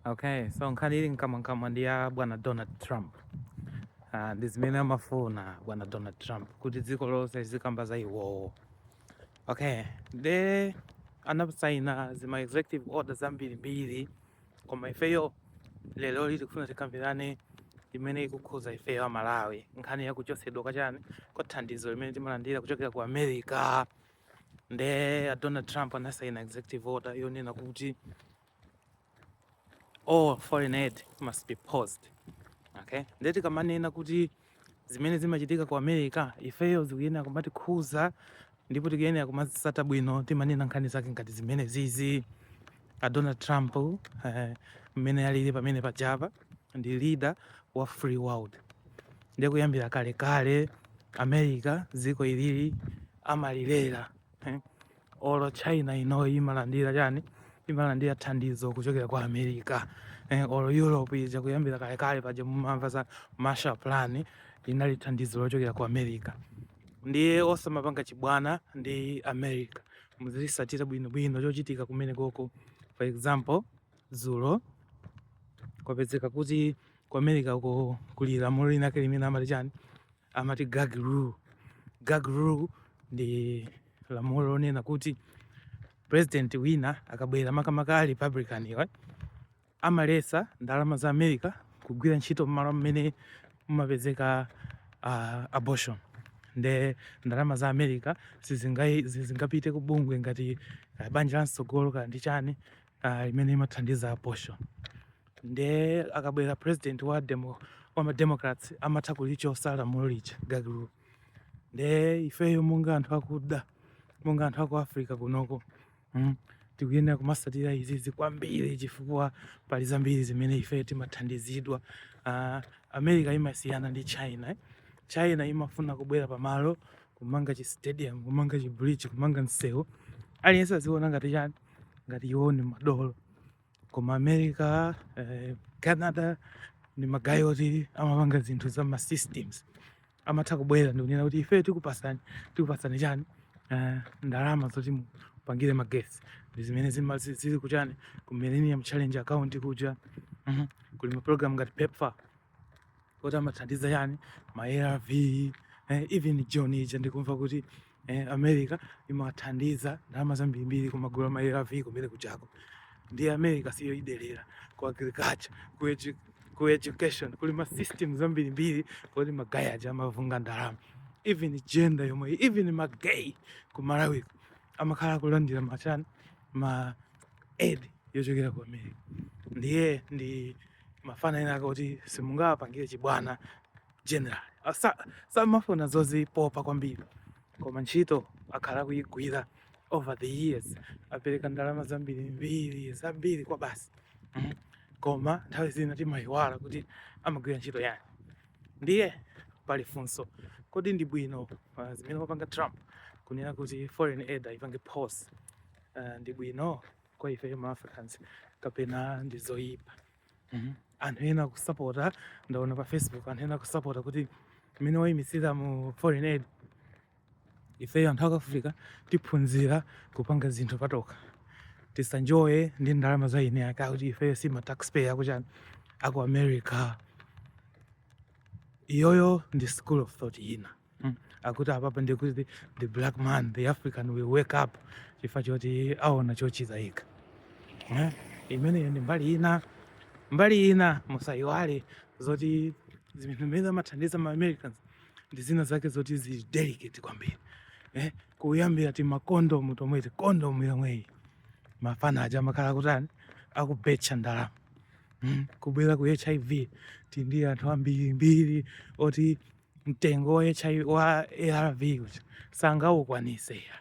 okay so nkhani ili mkamwamkamwa ndi ya bwana donald trump uh, ndi zimene amafuna bwana donald trump kuti dziko lonse lizikamba za iwowo okay nde anasaina zima executive order zambirimbiri koma ifeyo lero lino tikufuna tikambirane imene ikukhuza ifeyo amalawi nkhani yakuchotsedwa kwachani kwa thandizo limene timalandira kuchokera ku america nde a donald trump anasaina executive order yonena kuti all foreign aid must be paused okay nde tikamanena kuti zimene zimachitika ku america ifeyo zikuyenera kumatikhuza ndipo tikuyenera kumazitsata bwino timanena nkhani zake ngati zimenezizi a Donald Trump eh, mmene uh, alili pamene pajapa ndi leader wa free world ndiye kuyambira kale kale America dziko ilili amalilera eh. olo China ino imalandira chani imalandira thandizo kuchokera ku America eh, olo Europe ija kuyambira kale kale paja mumamva za Marshall Plan linali thandizo lochokera ku America ndiye osamapanga chibwana ndi America muzitsatira bwinobwino chochitika kumenekoko for example dzulo kwapezeka kuti ku america uko kuli lamulo linake limene amati chani amati gag rule gag rule ndi lamulo lonena kuti president wina akabwera makamaka a republican iwe amaletsa ndalama za america kugwira ntchito mmalo mmene mumapezeka uh, abortion nde ndalama za america sizingapite ku bungwe ngati uh, banja la mtsogolo kaya ndi chani uh, limene imathandiza abortion nde akabwera president wa demo wa mademocrats amatha kulichotsa lamulo lija gag rule nde ifeyo monga anthu akuda monga anthu aku africa kunoko mm. tikuyenera kumatsatira izizi kwambiri chifukwa pali zambiri zimene ife timathandizidwa uh, america imasiyana ndi china eh? china imafuna kubwera pamalo kumanga chi stadium kumanga chi bridge kumanga msewu aliyense aziona ngati chani ngati iwo ni madolo koma america eh, canada ni magayi oti amapanga zinthu za ma systems amatha kubwera ndikunena kuti ife tikupasani tikupasani chani uh, ndalama zoti mupangire magesi ndi zimene zili kuchani ku millennium challenge account kuja mm -hmm. kuli maprogram ngati pepfar oti amathandiza chani ma arv eh, even jhu ija ndikumva kuti eh, America imathandiza ndalama zambirimbiri kumagula ma ARV kumene kuchako ndi America siyoyidelera ku agriculture ku, edu, ku education kuli ma system zambirimbiri kuti magaye aja amavunga ndalama even gender yomwe even ma gay ku Malawi amakhala akulandira machani ma aid yochokera ku America ndiye ndi mafana ena ake oti simungawapangire chibwana general samafuna zozipopa kwambiri koma ntchito akhala akuyigwira over the years apereka ndalama zambirimbiri zambiri kwabasi mm. koma nthawi zina timayiwala kuti amagwira ntchito yani ndiye pali funso kodi ndi bwino uh, zimene wapanga Trump kunena kuti foreign aid ayipange pause uh, ndi bwino kwa ife ma Africans kapena ndi zoyipa Mhm. anthu ena akusapota ndaona pa facebook anthu ena akusapota kuti mmene wayimitsiramu foreign aid ifeyo anthu aku Africa tiphunzira kupanga zinthu patokha tisaenjoye ndi ndalama za eni ake akuti ifeyo si ma taxpayer akuchani aku america iyoyo ndi school of thought ina mm. akuti apapa ndikuti the black man the african will wake up chifukwa choti aona chochitayika eh? imeneyo ndi mbali ina mbali ina musayiwale zoti zimene zimene amathandiza ma americans ndi zina zake zoti zili delicate kwambiri eh? kuyambira timakondomu tomweti kondomu yomweyi mafana aja amakhala kutani akubetcha ndalama mm. kubwera ku hiv tindi anthu ambirimbiri oti mtengo wa HIV wa ARV uja sangawukwanise ya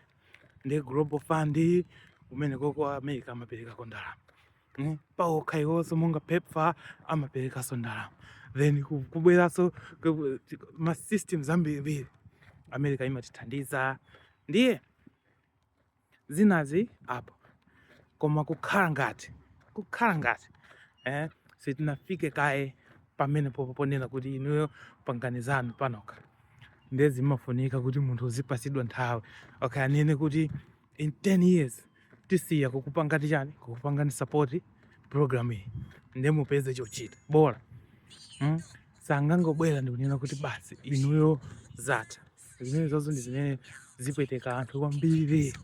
ndi global fund kumenekoko America amaperekako ndalama mm? paokha iwonso monga PEPFAR amaperekanso ndalama then kubweranso ma systems ambirimbiri America imatithandiza ndiye zinazi apo koma kukhala ngati kukhala ngati eh, sitinafike kaye pamenepopo ponena kuti inuyo pangani zanu panokha ndiye zimafunika kuti munthu uzipatsidwa nthawi okay anene kuti in 10 years tisiya kukupangani chani kukupangani support program iyi ndiye mupeze chochita bola mm? sangangobwera ndikunena kuti basi inuyo zatha zimenezozo ndi zimene zipweteka anthu kwambiri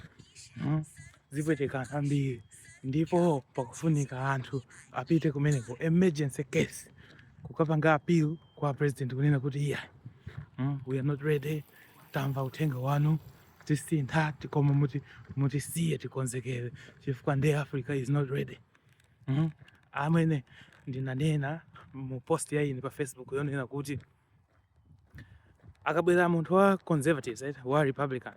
hmm? zipweteka anthu ambiri ndipo pakufunika anthu apite kumeneko emergency case kukapanga appeal kwa president kunena kuti iya hmm? we are not ready tamva uthenga wanu tisintha koma muti mutisiye tikonzekere chifukwa nde africa is not ready hmm? amene ndinanena mu post ya ine pa facebook yonena kuti akabwera munthu wa conservatives right? wa republican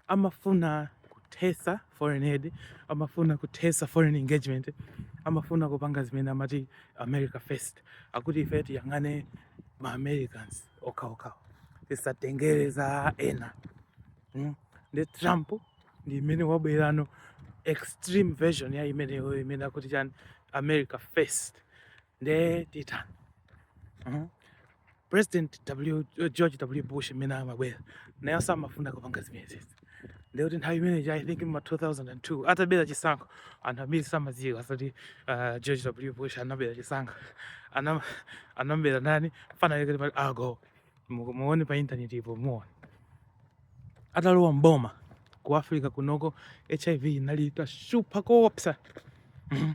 amafuna kuthesa foreign aid amafuna kuthesa foreign engagement amafuna kupanga zimene amati america first akuti ife tiyang'ane ma americans okhaokhawo tisatengere za ena mm? nde trump ndi imene wabwerano extreme version ya imeneyo imene akuti chani america first nde titani mhm. president w george w bush mmene amabwera naye samafuna kupanga zimenezezi nde kuti nthawi imeneyi i think ma 2002 atabera chisankho anthu ambiri samadziwa zoti uh, george w bush anabera chisankho anabera nani fana yake Al Gore muone pa internet ipo muone atalowa mboma ku Africa kunoko HIV inali itashupa koopsa mhm.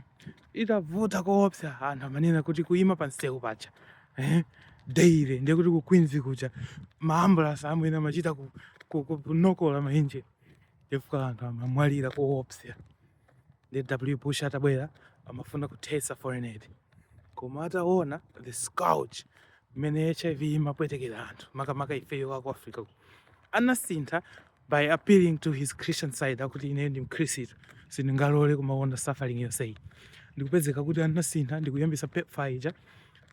itavuta koopsa anthu amanena kuti ukaima pa msewu paja eh? daily ndiye kuti ku Queens kuja maambulasi amwene amachita kunokola mainjini chifukwa anthu amamwalira koopsa nde w bush atabwera amafuna kuthesa foreign aid koma ataona the scourge mmene hiv imapwetekera anthu makamaka ifeyo aku africa anasintha by appealing to his christian side kuti ine ndi mkhristu sindingalole kumaona suffering yonseyi ndikupezeka kuti anasintha ndikuyambisa pepfar ija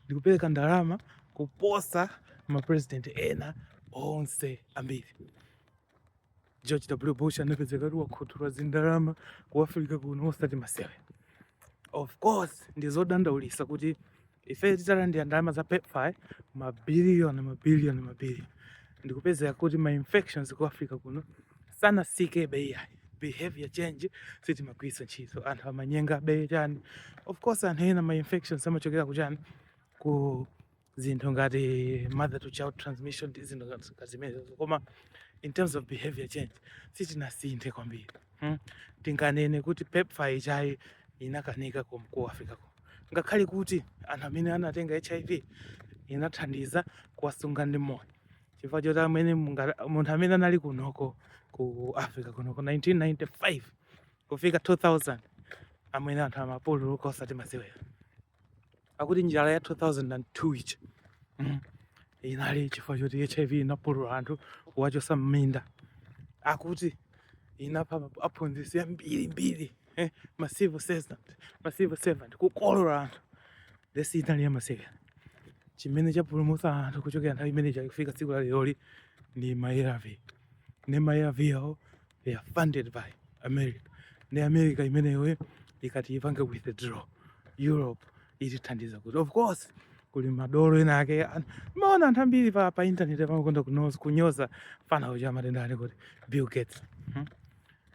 ndikupereka ndalama kuposa mapresident ena onse ambiri George W. Bush anapezeka kuti wakhuthula zindalama ku Africa kuno osati masewera. Of course ndi zodandaulitsa kuti ife titalandira ndalama za PEPFAR mabiliyoni mabiliyoni mabiliyoni ndikupezeka kuti ma infections ku Africa kuno sanasikebe iyayi behavior change sitimagwiritsa ntchito anthu amanyengabe chani of course anthu ena ma infections amachokera ku chani ku zinthu ngati mother to child transmission ndi zinthu ngati zimenezo koma in terms of behavior change sitinasinthe kwambiri hmm? tinganene kuti pepfar ijayi inakanika ku ku africa ko ngakhale kuti anthu amene anatenga hiv inathandiza kuwasunga ndi moyo chifukwa choti amene munga- munthu amene anali kunoko ku africa kunoko 1995 kufika 2000 amwene anthu amapululuka osati masewera akuti njala ya 2002 ija mm. inali chifukwa choti hiv inapulula anthu kuwachosa mminda akuti inapha aphunzitsi ambirimbiri eh, ma civil servant ma civil servant kukolola anthu edzi inali yamasewera chimene chapulumutsa anthu kuchokera nthawi imene ija kufika tsiku la leroli ndi ma arv nde ma arv wo they are funded by america ndi america imeneyoyo ikati ipange withdraw europe itithandiza kuti of course kuli madolo ena ake an- maona anthu ambiri pa, pa internet amakonda kunoz- kunyoza mfana uja wamatenda ali kuti bill gates hmm?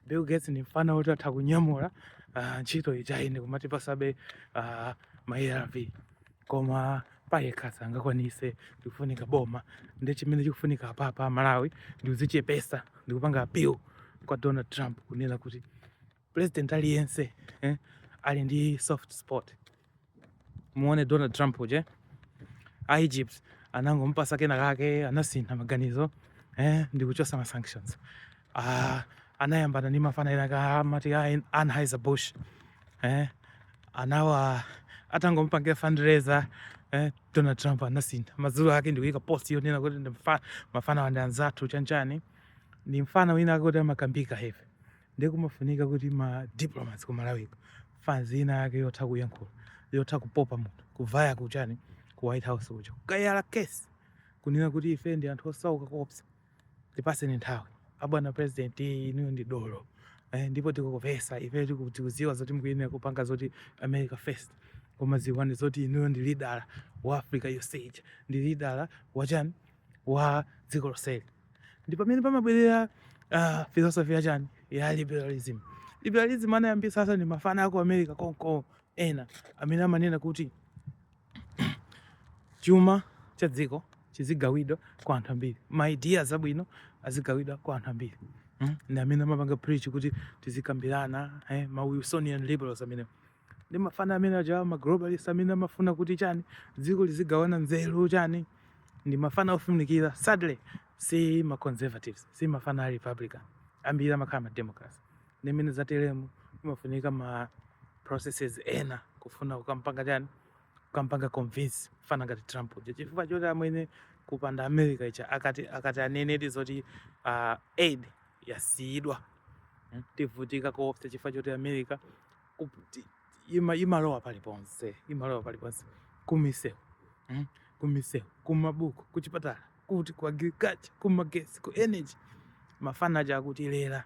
bill gates ndi mfana woti atha kunyamula ah, ntchito ijayi ndi kumatipasabe ah, ma arv koma payekha sangakwanise ndikufunika boma ndi chimene chikufunika apapa a malawi ndikuzichepesa ndikupanga appeal kwa donald trump kunena kuti president aliyense eh, ali ndi soft spot muone donald trump uje a egypt anangompasa kena kake anasintha maganizo eh, ndikuchosa ma sanctions Ah, anayambana ndi mafana ena ake amati a Anheuser Busch eh, anawa atangompangira fundraiser eh, Donald Trump anasintha madzulo ake ndikuyika post yonena kuti ndi mfa- mafana wandi anzathu chanchani ndi mfana wina woti amakambika heavy ndiye kumafunika kuti ma diplomats ku Malawi fans ina yake yotha kuyankhula yotha kupopa munthu kuvaya kuchani ku White House kuja kukayala case kunena kuti ife ndi anthu osauka kopsa Tipaseni nthawi abwana president, inuyo ndi dolo eh, ndipo tikukupesa ife tikuziwa zoti mukuyenera kupanga zoti America first, koma ziwani zoti inuyo ndi leader wa America yonse ija, ndi lidala wachani wa dziko lonseli. Ndi pamene pamabwerera uh, philosophy yachani ya liberalism. Liberalism anayambisa sasa ndi mafana ako America konko ena amene amanena kuti chuma cha dziko chizigawidwa kwa anthu ambiri ma ideas abwino azigawidwa kwa anthu ambiri hmm? ndi amene amapanga preach kuti tizikambirana eh, ma wilsonian liberals amene ndi mafana amene aja ma globalist amene amafuna kuti chani dziko lizigawana nzeru chani ndi mafana ofunikira sadly si ma conservatives si mafana a republican ambiri amakhala ma democrats ndimene zateremu imafunika ma processes ena kufuna kukampanga chani kukampanga convince fana ngati Trump uja chifukwa choti amwene kupanda America ija ikati ikati inenedi zoti uh, aid yasiyidwa hmm? tivutika koopsa chifukwa choti America ima, imalowa paliponse imalowa paliponse kumisewu hmm? kumisewu kumabuku kuchipatala kuti ku agriculture kumagesi ku energy mafana aja akutilera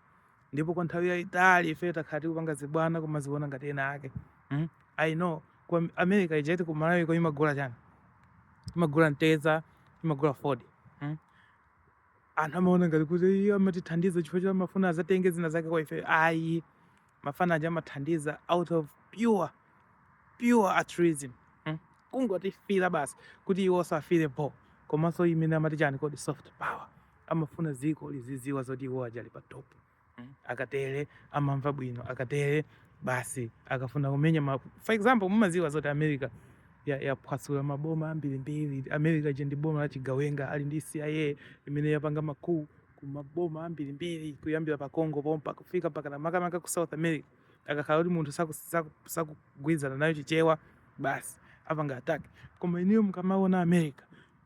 ndipo kwa nthawi yayitali ife takhala tikupanga zibwana kumaziona ngati ena ake mm? i know ku Am- america ija iti ku malawi ko imagula chani imagula mtedza imagula fodya mm? anthu amaona ngati kuti iyo amatithandiza chifukwa choti amafuna azatenge zina zake kwa ife ayi mafana aja amathandiza out of pure pure altruism mm? kungotifira basi kuti iwo osafira bo komanso imene amati chani kodi soft power amafuna dziko liziziwa zoti iwo aja ali pa top mm. akatere amamva bwino akatere basi akafuna kumenya ma... for example mumaziwa zoti america yaphwasula maboma ambirimbiri america je ndi boma la chigawenga ali ndi cia imene yapanga makuu kumaboma ambirimbiri kuyambira pa congo pompa kufika mpaka makamaka ku south america akakhala kuti munthu sakugwirizana nayo chichewa basi apanga attack koma ineyo mukamaona america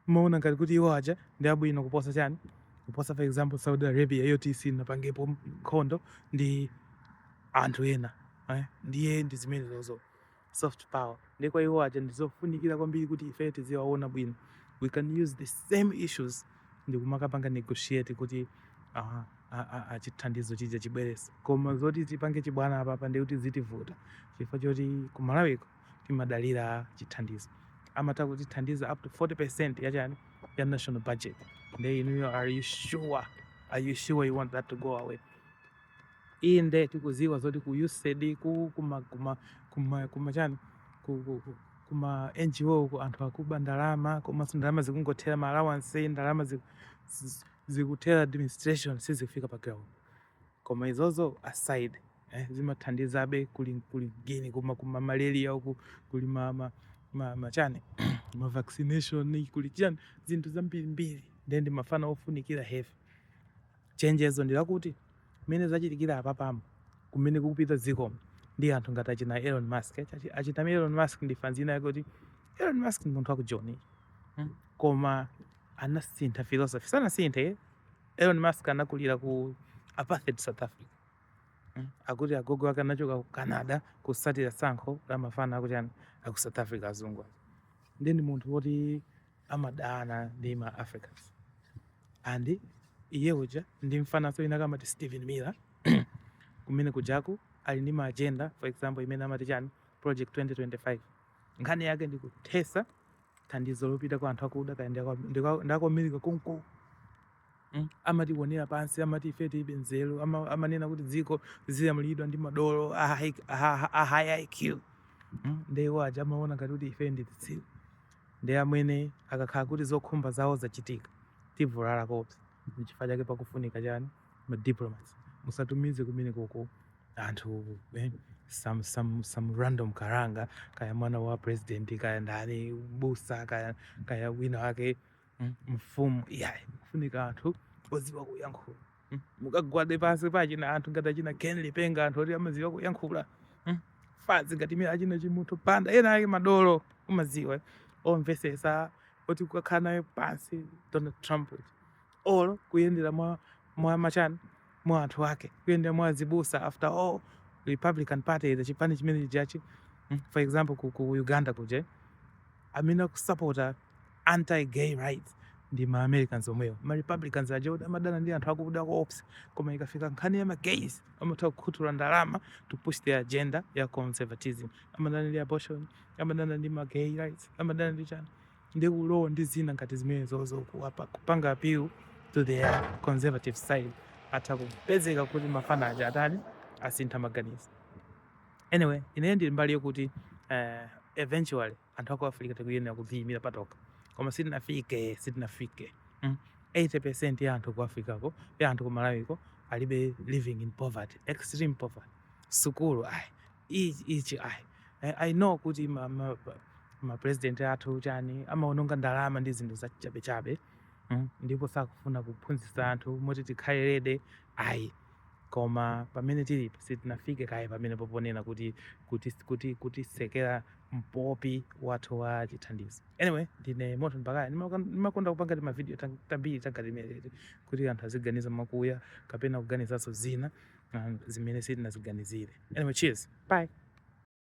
Mmaona ngati kuti iwo aja ndi abwino kuposa chani? Kuposa for example Saudi Arabia yoti sinapangepo nkhondo ndi anthu ena eh? Ndiye ndi zimenezozo soft power ndiye kwa iwo aja ndizofunikira kwambiri kuti ife tiziwaona bwino, we can use the same issues ndikumakapanga negotiate kuti uh, achithandizo chija chibwerese koma zoti tipange chibwana apapa ndikuti zitivuta chifukwa choti ku Malawiko timadalira chithandizo amatha kutithandiza up to 40% ya chani ya national budget nde inuyo are you sure are you sure you want that to go away inde tikuziwa zoti ku USAID ku kuma kuma kuma, kuma chani ku, ku, ku kuma NGO ku anthu akuba ndalama komanso ndalama zikungothera ma allowance ndalama zikuthera administration sizikufika pa ground koma izozo aside eh, zimathandizabe kuli kuli geni kuma malaria uku kuli ma ma ma, ma chani ma vaccination kuli chani zinthu zambiri mbiri ndiye ndi mafana ofunikira heavy chenjezo ndi lakuti mmene zachitikira apapamu kumene kukupita dziko ndi anthu ngati achina Elon Musk Achi- achita Elon Musk ndi fanzi ina yake kuti Elon Musk ndi munthu wa ku Joni hmm? koma sanasinthe philosophy sanasinthe Elon Musk anakulira ku apartheid South Africa mm. akuti agogo ake anachoka ku Canada kusatira sankho la mafana akuchani aku South Africa azungu ndi ndi munthu woti amadana ndi ma Africans and iye uja ndi mfananso ina kama Steven Miller kumene kujaku ali ndi ma agenda for example imene amati chani project 2025 nkhani yake ndi kuthesa thandizo lopita kwa anthu akuda kaya ndakwamerika konko mm? amatiwonera pansi amati ife tilibe nzeru amanena kuti dziko ziyamulidwa ndi madolo a high iq mm? ndeiwo aja amaona ngati kuti ife ndi zitsiru nde amwene akakhala kuti zokhumba zawo zachitika tivulala kopsa nchifukwa chake pakufunika chani ma diplomats musatumize kumenekoko anthu eh, some, some, some random karanga kaya mwana wa president kaya ndani busa kaya, kaya wina wake mm, mfumu yeah, kufunika anthu oziwa kuyankhula mm, mukagwade pansi pachina anthu ngati achina ken lipenga anthu oti amaziwa kuyankhula mm, fanzi ngati nyera achina chimunthu banda ena ake madolo umaziwa omvesesa oti kukakhala naye pansi donald trump or kuyendera mwa mwa machani mwa anthu ake kuyendera mwa azibusa after all republican party is chipani chimenechijachi mm, for example ku, ku uganda kuja amene akusapota anti gay rights ndi ma americans omwewo ma republicans ajawo amadana ndi anthu akuda koopsa koma ikafika nkhani ya ma gays amatha kukhuthula ndalama to push their agenda ya conservatism amadana ndi abortion amadana ndi ma gay rights amadana ndi chani ndi ulo ndi zina ngati zimenezozo kuwapa- kupanga appeal to their conservative side atha kupezeka kuti mafana aja atani asintha maganizo anyway ineyo ndili mbali yokuti eh, eventually anthu aku africa tikuyenera kudziyimira patoka koma sitinafike sitinafike mm. 80 percent ya anthu ku africako ya anthu ku malawiko alibe living in poverty extreme poverty sukulu ayi ichi ichi ayi I, I know kuti ma, ma, ma president athu chani amaononga ndalama ndi zinthu za chabechabe mm, ndipo sakufuna kuphunzitsa anthu moti tikhale ready ayi koma pamene tilipo sitinafike kaye pamene poponena kuti kuti kuti kutisekera mpopi wathu wa chithandizo anyway ndine Morton Baghaya ndimakonda kupanga timavidiyo tam- tambiri tangati timeneti kuti anthu aziganiza mwakuya kapena kuganizanso zina um, zimene sitinaziganizire. Anyway, cheers. Bye.